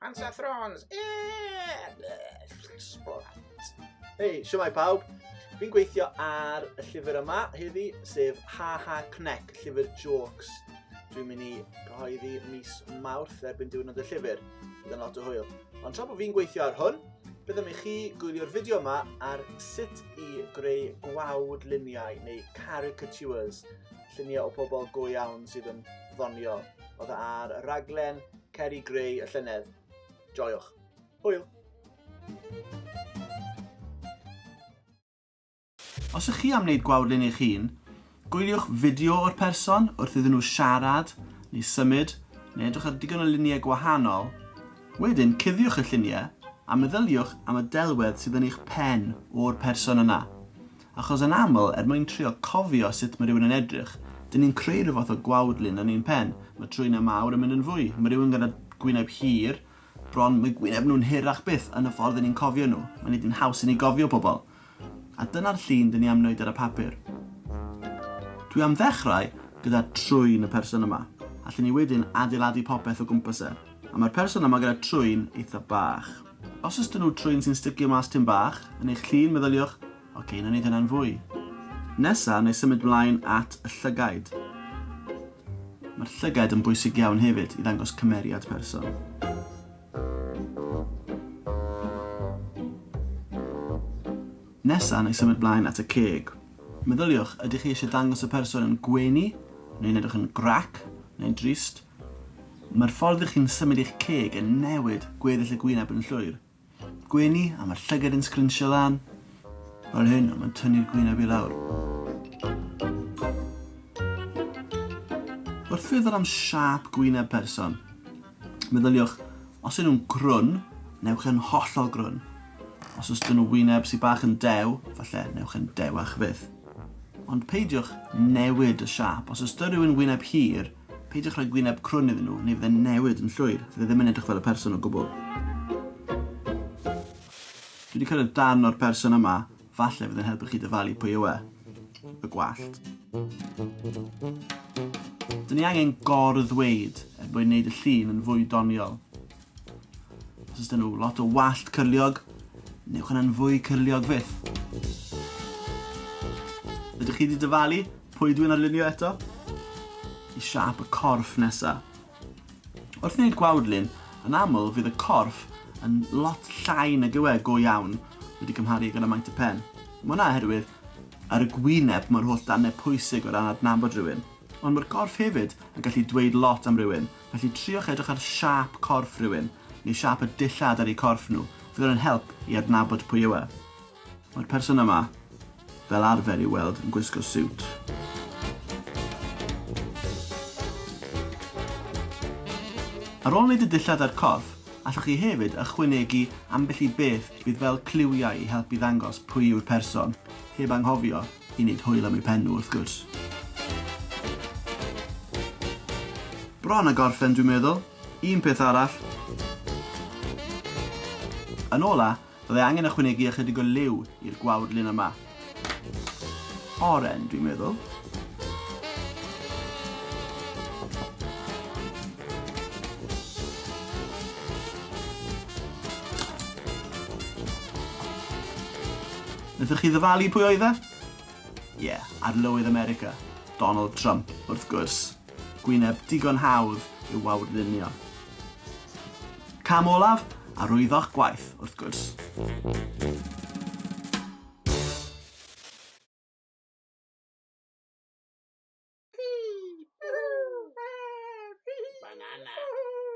Pansathrons! Hei, siwmai pawb. Fi'n gweithio ar y llyfr yma heddi, sef Ha Ha Connect, llyfr jokes. Dwi'n mynd i gyhoeddi mis Mawrth erbyn diwrnod y llyfr. Bydd yn lot o hwyl. Ond tra bod fi'n gweithio ar hwn, byddem i chi gwylio'r fideo yma ar sut i greu gwawd luniau neu caricatures, lluniau o pobl go iawn sydd yn ddoniol. Oedd e ar y raglen Cer i greu y llynedd. Joiwch. Hwyl! Os ych chi am wneud gwawrlun eich hun, gwyliwch fideo o'r person wrth iddyn nhw siarad neu symud neu edrych ar digon o luniau gwahanol, wedyn cuddiwch y lluniau a meddyliwch am y delwedd sydd yn eich pen o'r person yna. Achos yn aml, er mwyn trio cofio sut mae rhywun yn edrych, dyn ni'n creu rhyw fath o gwawdlun yn ein pen. Mae trwynau mawr yn mynd yn fwy. Mae rhywun gyda gwyneb hir, bron, mae gwyneb nhw'n hirach byth yn y ffordd 'yn ni'n cofio nhw. Mae nid yn haws i ni gofio pobl. A dyna'r llun dyn ni am wneud ar y papur. Dwi am ddechrau gyda trwyn y person yma. Allen ni wedyn adeiladu popeth o gwmpas e. A mae'r person yma gyda trwyn eitha bach. Os oes 'da nhw trwyn sy'n sticio mas tym bach yn eich llun meddyliwch, ok, nawn ni ddyna'n fwy. Nesa, wna i symud mlaen at y llygaid. Mae'r llygaid yn bwysig iawn hefyd i ddangos cymeriad person. Nesa, wna i symud mlaen at y ceg. Meddyliwch, ydych chi eisiau dangos y person yn gwenu, neu'n edrych yn grac, neu'n drist, Mae'r ffordd ych chi'n symud eich ceg yn newid gweddill y gwyneb yn llwyr. Gwenu, a mae'r llygad yn sgrinsio lan, fel hyn, ond mae'n tynnu'r gwyneb i lawr. Wrth feddwl am siâp gwyneb person, meddyliwch, os yw nhw'n grwn, newch e'n hollol grwn. Os oes dyn nhw wyneb sydd bach yn dew, falle newch e'n dewach fyth. Ond peidiwch newid y siâp. Os oes dyn rhywun wyneb hir, Peidiwch rhoi gwyneb crwn iddyn nhw, neu fydd e'n newid yn llwyr. Fydd e ddim yn edrych fel y person o gwbl. Dwi wedi cyrraedd darn o'r person yma, falle fydd e'n helpu chi dyfalu pwy yw e. Y gwallt. Dyn ni angen gor-ddweud er mwyn neud y llun yn fwy doniol. Os oes da nhw lot o wallt cyrliog, newch yna'n fwy cyrliog fyth. Ydych chi wedi dyfalu pwy dwi'n arlunio eto? I siap y corff nesa. Wrth wneud gwawdlun, yn aml fydd y corff yn lot llai nag yw e go iawn wedi cymharu gyda maint y pen. Mae hwnna oherwydd ar y gwyneb mae'r holl dannedd pwysig o ran adnabod rhywun, ond mae'r gorff hefyd yn gallu dweud lot am rywun, Felly triwch edrych ar siâp corff rhywun, neu siâp y dillad ar eu corff nhw, fydd hwn yn help i adnabod pwy yw e. Mae'r person yma fel arfer i'w weld yn gwisgo siwt. Ar ôl wneud y dillad a'r corff, allwch chi hefyd ychwanegu ambell i beth fydd fel cliwiau i helpu ddangos pwy yw'r person, heb anghofio I wneud hwyl am eu pen nhw wrth gwrs. Bron a gorffen dwi'n meddwl. Un peth arall. Yn ola, byddai angen ychwanegu ychydig o liw i'r gwawr lun yma. Oren, dwi'n meddwl. Wnaethoch chi ddyfalu pwy oedd e? Ie, Arlywydd America, Donald Trump, wrth gwrs. Gwyneb digon hawdd i'w wawrlunio. Cam olaf, arwyddo'ch gwaith, wrth gwrs.